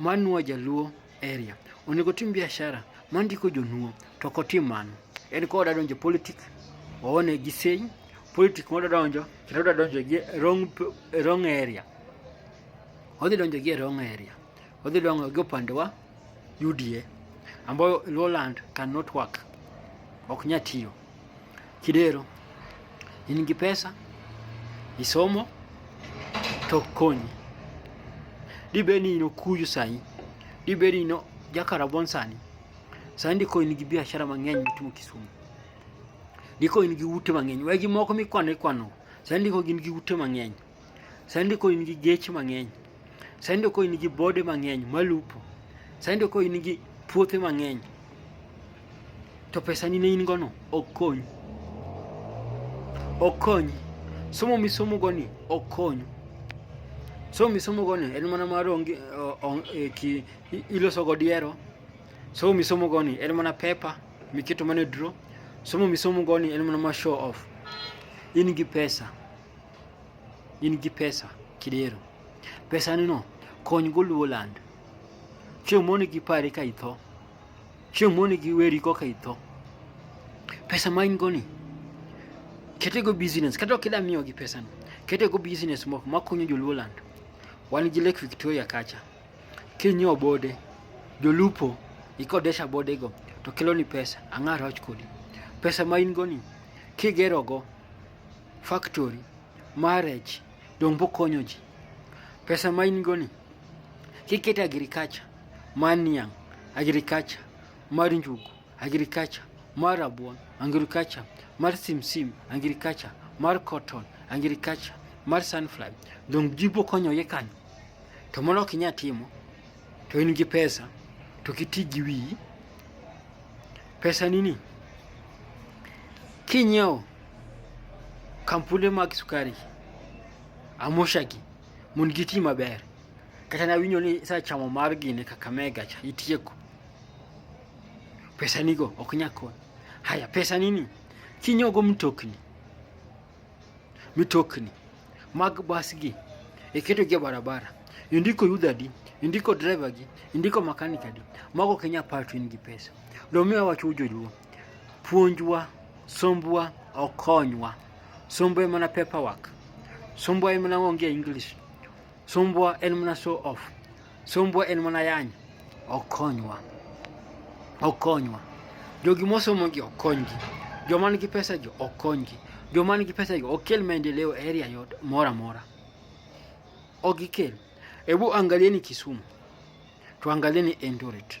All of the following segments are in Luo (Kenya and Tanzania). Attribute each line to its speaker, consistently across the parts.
Speaker 1: Manwa jaluo area onego tim biashara mandiko jonuo to ok otim mano. En ka odwa donjo politik oone gi sei politik modwa donjo kendo odwa donjo gi wrong, wrong area odhi donjo gi wrong area odhi donjo gi opande wa UDA ambayo Lowland cannot work ok nyatiyo Kidero in gi pesa isomo to konyi dibed ni in okuyu sani dibed ni in jakarabon sani sani diko in gi biashara mang'eny mitimo Kisumu diko in gi ute mang'eny wegi moko mikwano ikwano sani diko gin gi ute mang'eny Saindi ko in gi geche mang'eny. Saindi ko in gi bode mang'eny malupo. Saindi ko in gi puothe mang'eny. To pesa ni ne in gono ok konyi. Ok konyi. Somo misomo goni ok konyi. Somo misomo goni en mana mar onge e, ki iloso go diero. Somo misomo goni en mana pepa miketo mana e draw. Somo misomo goni en mana mar show off. In gi pesa. in gi pesa kidero pesa ni no kony go luo land chieng' moni gi pari ka itho chieng' moni gi weri koka itho pesa ma in go ni kete go business kata ok ida miyo gi pesa no kete go business moko makonyo joluo land wan gi lake victoria kacha kinyo bode jolupo ikodesha bode go to kelo ni pesa ang'ar wach kodi pesa ma in go ni kigerogo factory, marriage, donge bokonyo ji? Pesa ma in go ni kikete agriculture mar niang', agriculture mar njugu, agriculture mar rabuon, agriculture mar simsim, agriculture mar cotton, agriculture mar sunflower, donge ji bokonyo ye kanyo? To mano ok inyal timo to in gi pesa to kiti gi wiyi pesa nini kinyiewo Kampule mag sukari Amoshagi mon gi ti maber kata nawinjo ni sa chamo mar gine Kakamega cha itieko pesa nigo ok nyakon haya pesa nini kinyogo mtokni mitokni mag bas gi iketo gi barabara indiko yuda di indiko driver gi indiko makanika di mago kenya part in gi pesa lomiwa wacho joluo Puonjwa, sombwa ok konywa. Sombwa en mana paperwork. Sombwa en mana onge English. Sombwa en mana show off. Sombwa en mana yany. Ok konywa. Ok konywa. Jogi mosomogi ok konygi. Joma nigi pesa jo ok konygi. Joma nigi pesa jo ok kel maendeleo e area yot mora mora. Ok gikel. Hebu angalieni Kisumu. Tuangalieni Eldoret.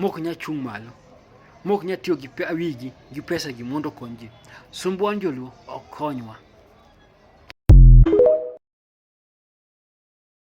Speaker 1: mok nya chung' malo mok nya tiyo gi wigi gi pesa gi mondo okony ji sumbwa njoluo ok konywa